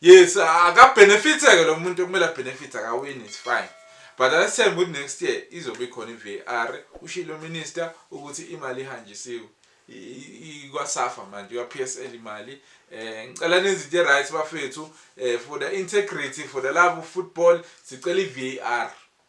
Yes, aka benefits ke lo muntu kumele benefits akawini it's fine. But asithembe ukuthi next year izobe khona iVAR. Ushilo minister ukuthi imali ihanjisiwe. ikwasafa manje kwa PSL imali eh ngicela nezinto right bafethu eh for the integrity for the love of football sicela iVAR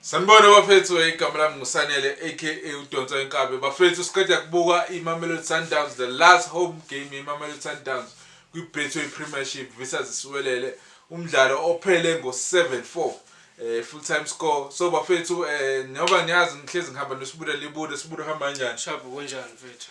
Sanibona bafethu eh, igama lami ngusanele aka udonsa inkabe bafethu siqeda kubuka imamelodi sundowns the last home game imamelodi sundowns kwi-betway premiership visas isiwelele umdlalo ophele ngo-74 um eh, full time score so bafethu um njengoba ngiyazi ngihlezi ngihamba nesibuda libuda sibuda uhamba kanjani shabu kunjani mfethu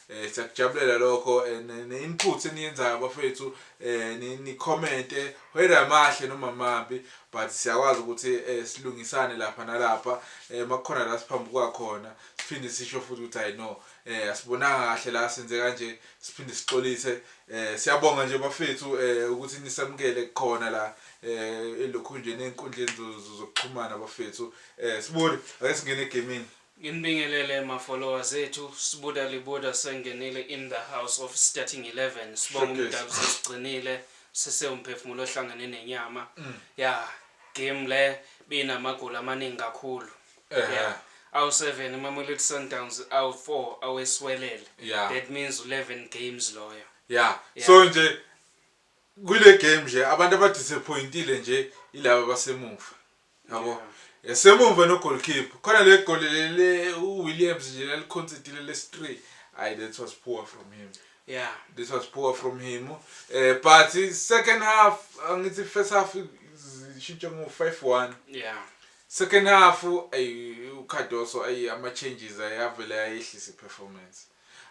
Eh siyakujabulela lokho eh, ne- ne input eniyenzayo bafethu eh ni, ni comment eh, whether amahle noma mabi but siyakwazi ukuthi eh, silungisane lapha nalapha eh makukhona la siphambuka khona siphinde sisho futhi ukuthi hayi no eh asibonanga kahle la senze kanje siphinde sixolise eh siyabonga nje bafethu eh ukuthi nisamukele khona la eh elokhu nje nenkundleni zo- zo- zokuxhumana bafethu eh sibone ake singene egamini Nginibingelele ma followers ethu Sbuda Libuda sengenile in the house of starting 11 sibonga umdalu usesigcinile sise umphefumulo ohlangene nenyama yah game le beyinamagoli amaningi kakhulu yah awu 7 iMamelodi Sundowns awu 4 aweswelele that means u 11 games loyo yah so nje Kule game nje abantu aba disappointile nje ilaba abasemuva. Yabo. Esemuva no goalkeeper. Khona le goal le uWilliams nje laliconcedile lesi 3. Ay that was poor from him. Yeah. This was poor from him. Eh but second half angithi first half ishintshe ngo 5-1. Yeah. Second half ay uCardoso ay ama changes ayavela ayehlisa iperformance.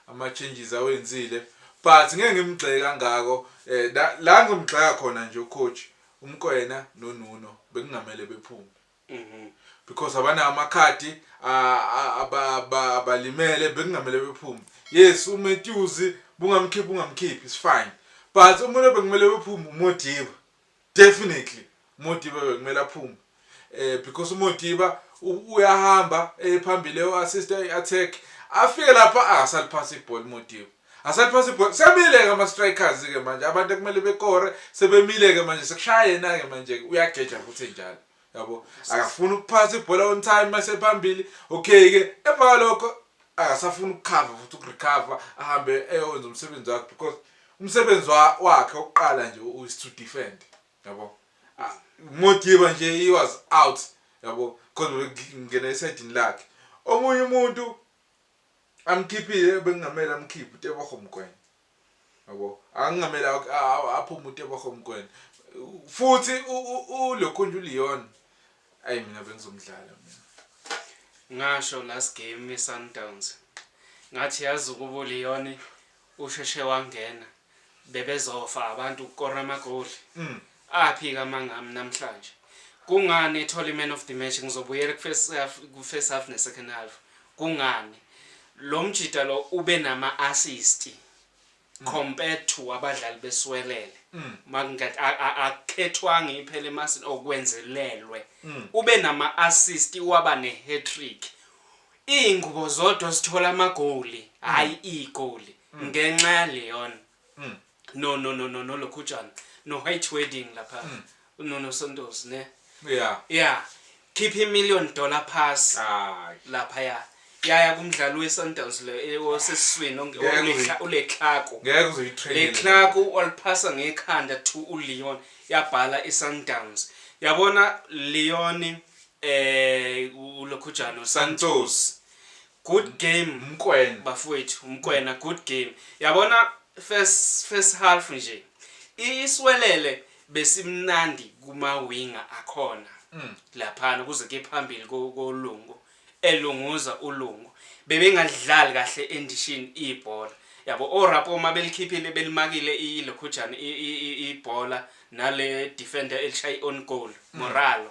ama changes awenzile but ngeke ngimgxeke kangako eh la, la ngimgxeka khona nje ucoach uMkwena noNuno bekungamele bephume Mhm. because abanawo amakhadi a- a- aba- aba- abalimele bekungamele bephume yes uMatthews bungamkhiphi ungamkhiphi is fine but umuntu obekumele bephume uModiba Definitely Modiba bekumele aphume eh because uModiba uyahamba ephambili eyo assist i attack afike lapha akasaliphansi ah, ibhola uModiba asaliphansi ibhola semile ke ama strikers ke manje abantu ekumele bekore sebemile ke manje sekushaya yena ke manje uyageja futhi njalo yabo akafuni ukuphatha ibhola on time mase phambili okay ke emva kwalokho akasafuni ukukhava futhi ukurecover ahambe eyokwenza umsebenzi wakhe because umsebenzi wakhe oqala nje is to defend yabo ah, modiba nje he was out yabo khona ngena esidini lakhe omunye umuntu amkhiphile bengingamela amkhiphe uteboho mgwenya Yabo. Angingamela aphume uTebogo Mokoena. Futhi ulokhunje uLeon. Ayi mina bengizomdlala mina. Ngasho last game iSundowns. Ngathi yazi ukuba uLeon usheshe wangena bebezofa abantu ukukora amagoli. Mm. Aphi ke amanga ami namhlanje? Kungani ethole iMan of the Match? Ngizobuyela kuFirst Half, kuFirst Half neSecond Half. Kungani? Lo mjita lo ube nama assist compared to abadlali beSwelele. Makungathi a- a- akukhethwanga iphela emasini or kwenzelelwe. Ube nama assist waba ne-hat-trick. Iy'ngubo zodwa zithola amagoli, hhayi iy'goli ngenxa yaLeon. no no no no no lokhutshana no white wedding lapha mm. no no sontos ne yeah yeah keep a million dollar pass ah lapha ya yaya kumdlalo weSundowns le eh, osesiswini ongekhla ulekhako ngeke uzoyitrain lekhako waliphasa ngekhanda to uLeon yabhala iSundowns yabona Leon eh ulokhujana uSantos Good game Mkwena. Bafowethu Mkwena good game yabona first first half nje iswelele besimnandi kuma winger akhona laphana kuze ke phambili ko ko Lungu elunguza uLungu bebengalidlali kahle endishini ibhola yabo o Rapo uma belikhiphile belimakile i lokhujana i i i ibhola nale defender elishaye on goal Moralo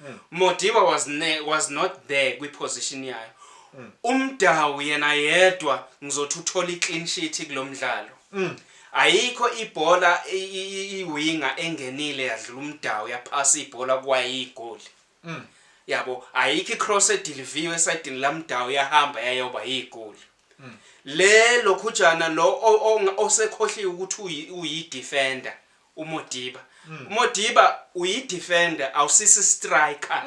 mm. Modiba was, ne, was not there kwiposition yayo mm. umdawu yena yedwa ngizothi uthola iclean sheet kulo mdlalo mm. ayikho ibhola iwinga engenile yadlula umdawu yaphasa ibhola kwayigoli mm. yabo ayikho icross ediliviwe esayidini lamdawu yahamba yayoba yigoli mm. le lokhujana lo osekhohliwe ukuthi uyi defender uModiba. UModiba uyi-defender awusisi istriker.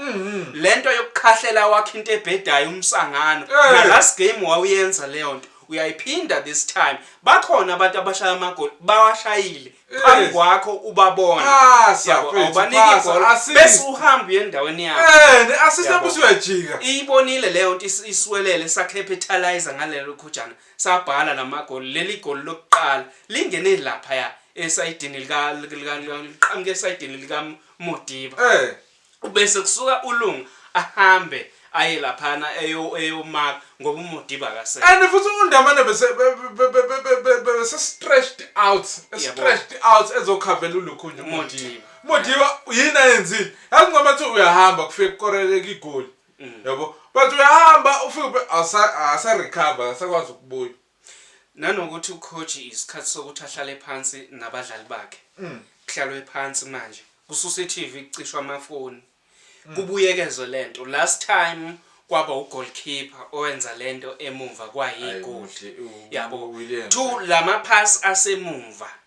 Lento yokukhahlela wakhe into ebhedayo umsangano. Na last game wawuyenza leyo nto. Uyayiphinda this time. Bakhona abantu abashaya amagoli bawashayile phambi kwakho ubabona. Phasa Yabo mfethu, awubaniki phasa, ibhola assist. bese uhamba uye endaweni yakho. Eh, ne-assist Yabo. yakho usuyajika. Iyibonile leyo nto is- iswelele sakhephe ethalizer ngalelo khujana. sabhala namagoli leli goli lokuqala lingene laphaya esayidini lika liqhamuke esayidini lika Modiba eh ubese kusuka ulunga ahambe aye laphana eyomaka ngoba umodiba akase and futhi undamane bese bese stretched out stretched out ezokhavela ulukhunya umodiba modiba yini ayenzile yazi ngoba uthi uyahamba kufike kukoreleka igoli Mm. yabo but uyahamba ufike asa recover asakwazi ukubuya nanokuthi ucoach isikhathi sokuthi ahlale phansi nabadlali bakhe mm. kuhlalwe phansi manje kususa iTV kucishwa amafoni mm. kubuyekezwe lento last time kwaba ugoalkeeper owenza lento emumva kwayigoli yabo two lama pass asemumva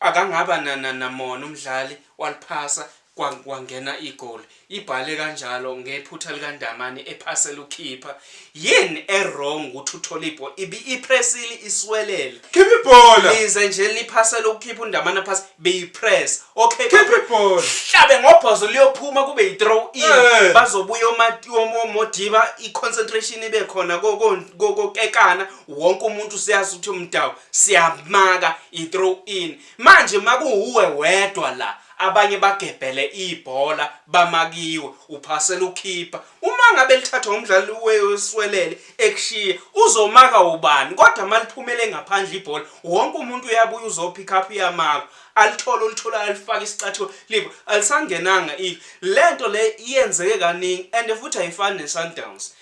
Akangaba na na namona umdlali waliphasa kwa kwangena igoli. Ibhale kanjalo ngephutha likaNdamane ephasela ukhipha. Yini e wrong ukuthi uTholipo ibi ipressile iswelele. Khipha ibhola! Lize nje liphasela ukukhipha uNdamane aphase beyi press. Okay. Khipha ibhola! Hlabe ngobhozo liyophuma kube yi throw in. Eh. Bazobuya omati omo modiba i concentration ibe khona ko ko ko kokekana wonke umuntu siyazi ukuthi umdawu. siyamaka i throw in manje makuwuwe wedwa la abanye bagebhele ibhola bamakiwe uphasela ukhipha uma ngabe lithathwa umdlali weswelele ekushiya uzomaka ubani kodwa maliphumele ngaphandle ibhola wonke umuntu uyabuya uzopick up uyamaka alithole olithola alifake isicathulo libo alisangenanga i lento le iyenzeke kaningi and futhi ayifani neSundowns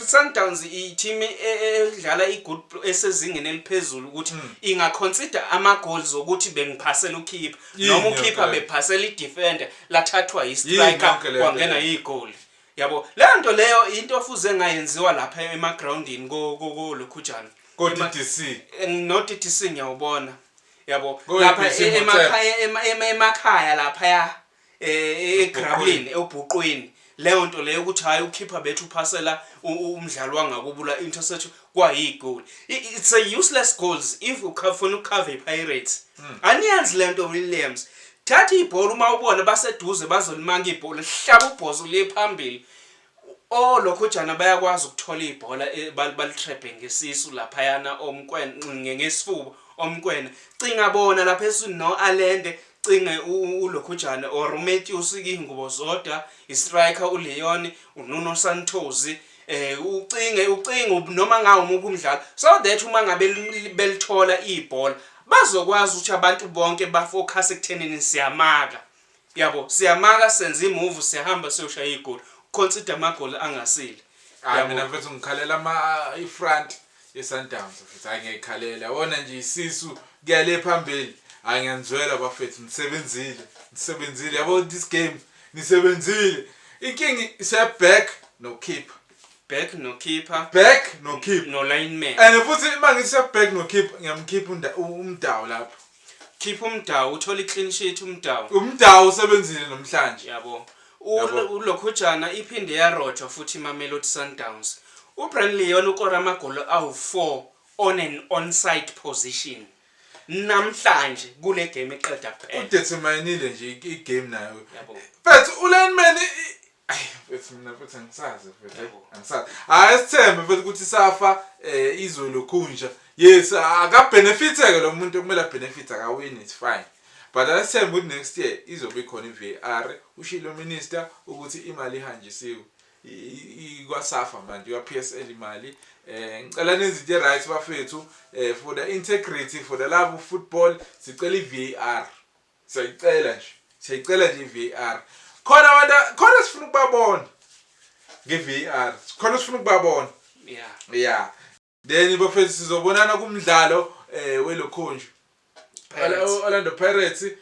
Sundowns i-team e- e- edlala i-good pl- esezingeni eliphezulu ukuthi Hmm. ingaconsider ama-goals okuthi bengiphasela ukhipha Yini noma yonke ukhipha le nto? bephasela i-defender lathathwa Yini yi-striker yonke le nto kwangena le? igoli yabo leyo nto leyo into ofuze ngayenziwa lapha emagrawundini kolokhujana Ko-DDC. no-DDC ngiyawubona yabo Ko-DDC lapha e- Motsepe. emakhaya ema- ema- emakhaya laphaya egrabini ewubhuqwini leyo nto leyo ukuthi hhayi ukhipha bethu uphasela umdlali wangakubula interception kwayigoli it's a useless goals if ufuna ukukhava ipirates hmm. aniyazi le nto williams thatha ibhola uma ubona baseduze bazolimanga ibhola hlaba ubhozo liye phambili O lokhojana bayakwazi ukuthola ibhola balitrebhe ngesisu laphayana o Mkwena ngesifuba o Mkwena cinga bona lapha eswini no Alende cinge ulokhojana or uMetyus ingubo zodwa istriker uLeon uNuno Santhozi eh ucinge ucinge noma ngawo umuphi umdlalo so that uma ngabe belithola ibhola bazokwazi ukuthi abantu bonke bafocus ekuthenini siyamaka Yabo siyamaka senza imove siyahamba siyoshaya igoli consider amagoli angasile. Hayi mina mfethu ngikhalela ama ifront yeSundowns mfethu hayi ngiyayikhalela yabona nje isisu kuyale phambili hayi ngiyanizwela bafethu nisebenzile nisebenzile yabo this game nisebenzile inkingi seback no keeper back no keeper back no keeper no lineman and futhi uma ngithi seback no keeper ngiyamkhipha umdawu lapho Khipha uMdawu uthole iclean sheet uMdawu. UMdawu usebenzile namhlanje. Yabo. Yabo. U- Ulokhujana iphinde yarojwa futhi iMamelodi Sundowns. UBrian Leon ukore amagoli awu-4 on an onside position namhlanje kule game eqeda kuphela. Udeterminile nje i- i-game nayo. Yabo. But ulineman i- Mfethu mina futhi angisazi mfethu eh, angisazi hayi sithembe mfethu ukuthi safa eh izwe lokhunja yes akabenefiteke lo muntu kumele abenefit akawini it's fine but asithembe ukuthi next year izobe ikhona i-var ushilo minister ukuthi imali ihanjisiwe ikwasafa manje kwa-psl imali eh ngicela nenze into right bafethu eh for the integrity for the love of football sicela i-var Siyayicela nje. Siyayicela nje iVAR. Khona abantu khona sifuna ukubabona. NgeVAR. Khona sifuna ukubabona. Yeah. Yeah. Then bafethu sizobonana kumdlalo eh welokhunju. Pirates. Ola- Orlando Pirates eh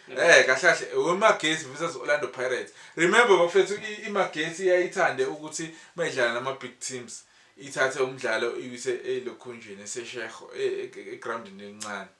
kahle kahle wemagesi versus Orlando Pirates remember bafethu i- imagesi yayithande ukuthi mayidlala nama big teams ithathe umdlalo iwise elokhunjini esesheho e- e- egroundini elincane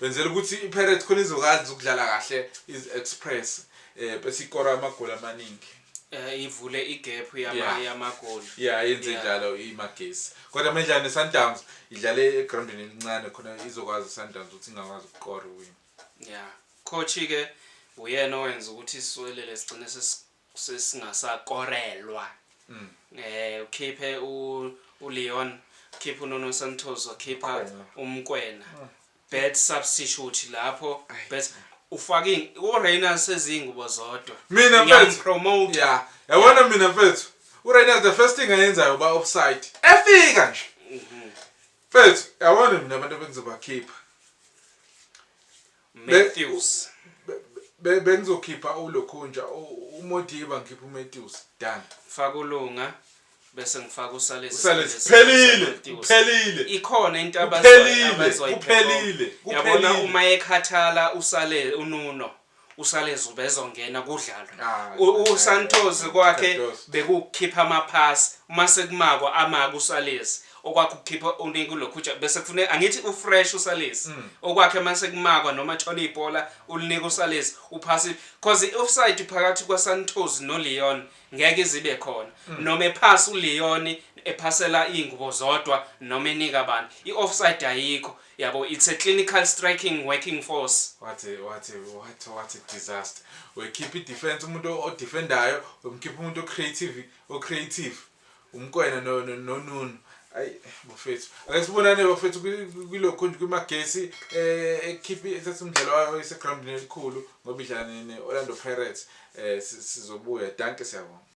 Benzela ukuthi iPirates khona izokwazi ukudlala kahle iZi-Express eh bese ikora amagoli amaningi. Eh ivule igap yama Yeah. yamagoli. Yeah, yenze Yeah. njalo iMagesi. Kodwa mendlala neSundowns idlale egroundini elincane khona izokwazi iSundowns ukuthi ingakwazi ukukora win. Yeah. Coach ke uyena owenza ukuthi iswelele sigcine sesi Sesingasakorelwa. Eh ukhiphe u uLeon, ukhiphe uNuno Santos, wakhipha uMkwena. Bad substitute lapho. Bad ufake uRayners sezingubo zodwa. Mina mfethu. Uyampromoter. Yeah. Yabona mina mfethu. URayners the first thing ayenzayo uba offside. Efika nje. Mfethu, yabona mina abantu ebengizobakhipha. Matthews. Be bengizokhipha uLokhunja, uModiba ngikhipha uMatthews. Done. Ngifaka uLunga bese ngifaka uSalezi. Usalezi phelile, phelile. Ikhona into abazoyiphela. Kuphelile. Yabona uma ekhathala uSale uNuno. uSalezi ubezongena kudlalwe ah, uSantos kwakhe bekukhipha amaphasi uma sekumako amaka uSalezi okwakhe ukukhipha uningi uLokhuja bese kufuneka angithi ufresh uSalesi mm. okwakhe mase kumakwa noma thola ibhola ulinika uSalesi uphasi cause iOffside phakathi kwaSantos noLeon ngeke izibe khona mm. noma ephasa uLeon ephasela izingubo zodwa noma enika abantu iOffside ayikho yabo it's a clinical striking working force what a, what a, what a, what a disaster wekhipha idefense umuntu odefendayo umkhipha umuntu ocreative ocreative uMkwena no, no, no Nunu ayi bafethu ake sibonane bafethu kwilokho nje kwimagesi eh ekhiphi ethatha umdlalo wayo esegroundini elikhulu ngoba idlala ne-Orlando Pirates eh sizobuya danke siyabonga